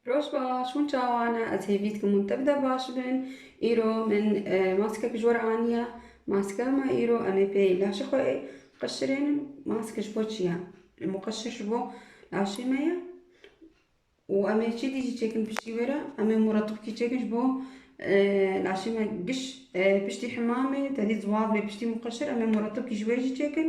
Roj baş, hûn çawa ne? Ez hêvî dikim hûn tev de baş bin. Îro min maskek ji we re aniye. Maskea me îro em ê pê laşê xwe qeşirênin. Maske ji bo çi ye? Muqeşir ji bo laşê me ye û em ê çêdî jî çêkin piştî wê re. Em ê muretibkî çêkin ji bo laşê me giş piştî hemamê tevî ziwaz bê piştî muqeşir. Em ê muretibkî ji wê jî çêkin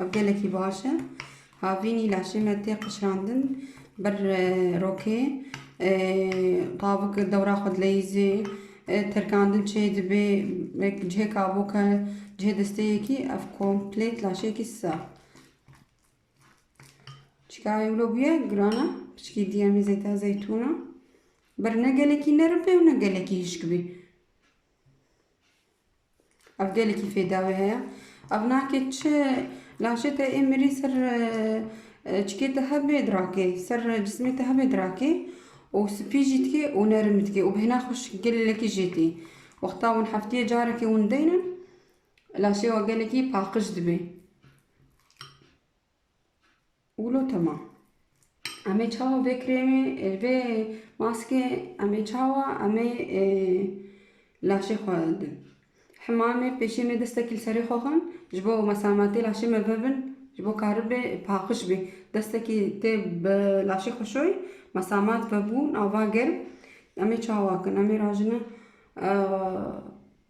Ev gelekî baş e. Havînî laşê me tê qişrandin ber rokê. Qavik dewra xwe dileyîzê terkandin çê dibê cihê kavoka cihê desteyekî ev komplêt laşeyekî sar. Çikayê wilo bûye girana piçkî diye mî zeyta zeytûna. Ber ne gelekî nerim bê û ne gelekî hişk bê. Ev gelekî fêdawê heye. Ev nake çi laşê te ê mirî ser çikê te hebe dirakê, ser cismê te hebe dirakê û spî jî dike û nerim dike û bi hêna xweş gelekî jê tê. Wexta hûn hefteyê carekê hûn deynin laşê we gelekî paqij dibe. Wilo tema. Em ê çawa vê krêmê vê maskê em ê çawa em ê laşê xwe din. Hema em ê pêşiyê me destekî li serê xwe xwin ji bo mesametê laşê me bibin ji bo karibê paqij bê. Destekî tê bi laşê xwe şoy mesamet vebûn ava germ em ê çawa bikin. Em ê rajine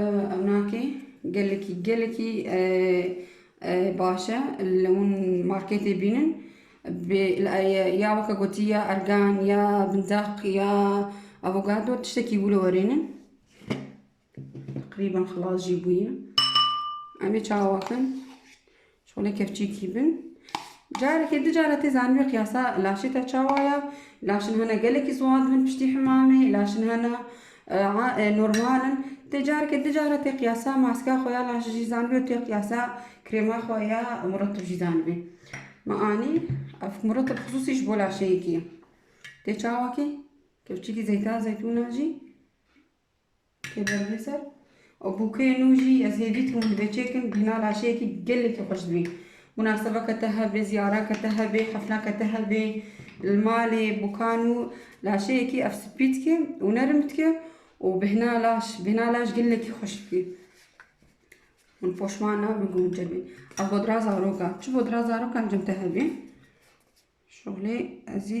Ew nakê gelekî gelekî baş e li hûn marketê bînin bê ya weke gotî ya ergan ya bindaq ya avogado tiştekî wilo werênin teqrîben xilas jî bûye em ê çawa bikin Çolê kevçîkî bin. Carekê du care tê zanîbî qiyasa laşê te çawa ya. Laşên hene gelekî ziwan dibin piştî himamê, laşên hene normal in. Tê carekê du care tê qiyasa maska xwe ya laş jî zanîbî û tê qiyasa krêma xwe ya muretib jî zanîbî. Me anî ev muretib xisûsî ji bo laşeyekî ye. Tê çawa kî? Kevçîkî zeyta zeytûna jî. Kêber bê ser. Û bûkeyê nû jî ez hêvî dixwim divê çêkim bîna laşeyekî gelekî xweş dibî. Munasebeke te hebê, ziyarake te hebê, xefneke te hebê li malê bûka nû laşeyekî ev spî dike û nerim dike û bihna laş bihna laş gelekî xweş dike. Min poşman nabin ku min çêbî. Ev hodira zaroka. Çi hodira zarokan cem te hebê. Şolê ezî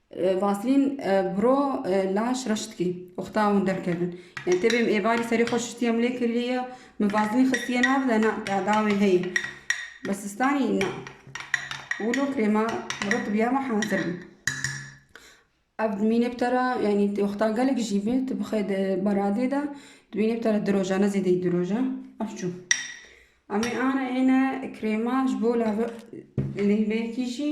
Vaslîn bro laş reş dikî. Oxta hûn derkevin. Yani tê bêm êvarî serî xwe şistiye min lê kiriye. Min vaslîn xistiye nav de na dawê heyî. Bi sistanî na. Wilo krêma bro tu biyama hazir bî. Ev dimînê bi te re yani oxta gelek jî bê tu bixê di beradê de dimînê bi te re di roja ne zêdeyî di roja ev çû. Em ê ana êne krêma ji bo lave lêveyekî jî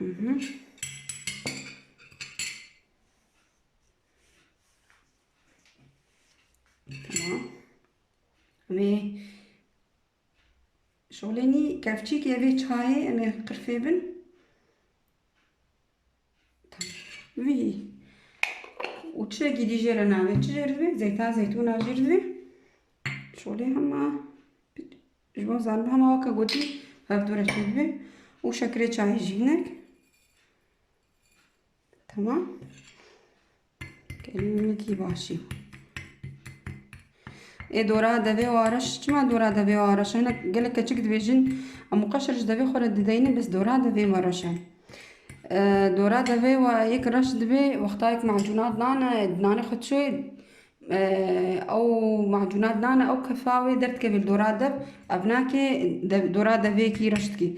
Tamam. Ve şoleni kevçik evê çayê em ê qirfê bin. Vî û çirekî dî jêre navê çi jêr divê? Zeyta zeytûna jêr divê. Şolê hema Ji bo zanîn hema weke gotî hevdû re çêdibe û şekerê çayê jî hinek. Tamam. Kelî minikî başî. Ê dora devê û areş çima dora devê û areş hene gelek keçik dibêjin em qeşir ji devê xwe re dideynin bes dora devê me reş e. Dora devê we yek reş dibê wextayek macûnat nane nanê xwe çê Ew macûna dinane ew kefa wê derdikeve li dora dev. Ev nakê dora devêkî reş dikî.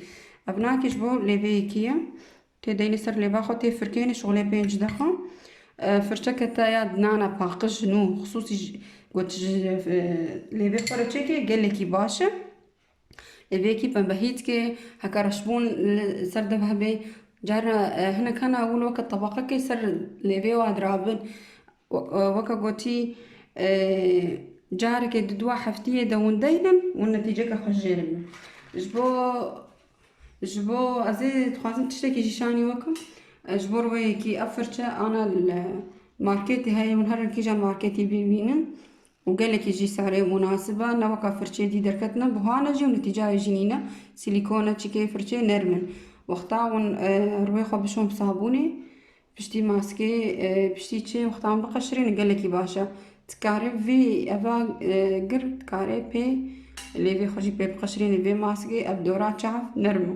Ev nakê ji bo lêveyekî ye. Tê deynê ser lêva xwe tê firkênê şixulê pênc dexa. Firçeke te ya dinana paqij nû xisûsî got ji lêvê xwe re çêkê gelekî baş e. Lê vê yekî pembe hît ke heke reşbûn li ser dev hebe carna hinek hene hûn weke tebaqekê ser lêvê wa dirabin. Weke gotî carekê di dua heftiyê de hûn deynin û netîceke xwe jê re bîn. Ji bo ji bo ez ê dixwazim tiştekî jî şanî weke ji bo wê yekî ev firçe ana li marketê heye hûn her kîjan marketî bîvînin. û gelekî jî sare û munasib e, ne weka firçeyê dî derketina buhan e jî û netîcayê jî nîne, sîlîkon e, çîkeyê firçeyê nerm in. Wexta hûn rûyê xwe bişon bi sabûnê, piştî maskê, piştî çê wexta hûn biqeşirînin gelekî baş e. Dikarê vî eva gir dikarê pê lêvê xwe jî pê biqeşirînê vê maskê, ev dora çav nerm o.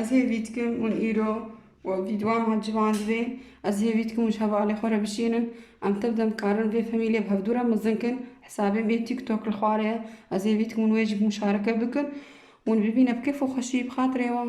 Ez hêvî dikim hûn îro û vî dwan hat civandivê. Ez hêvî dikim hûn ji hevalê xwe re bişînin. Em tev dem dikarin vê famîlê bi hevdû re mezin kin. Hesabê me TikTok li xwarê ye. Ez hêvî dikim hûn wê jî muşareke bikin. Hûn bibîne bi kêf û xweşî bi xatirê wan.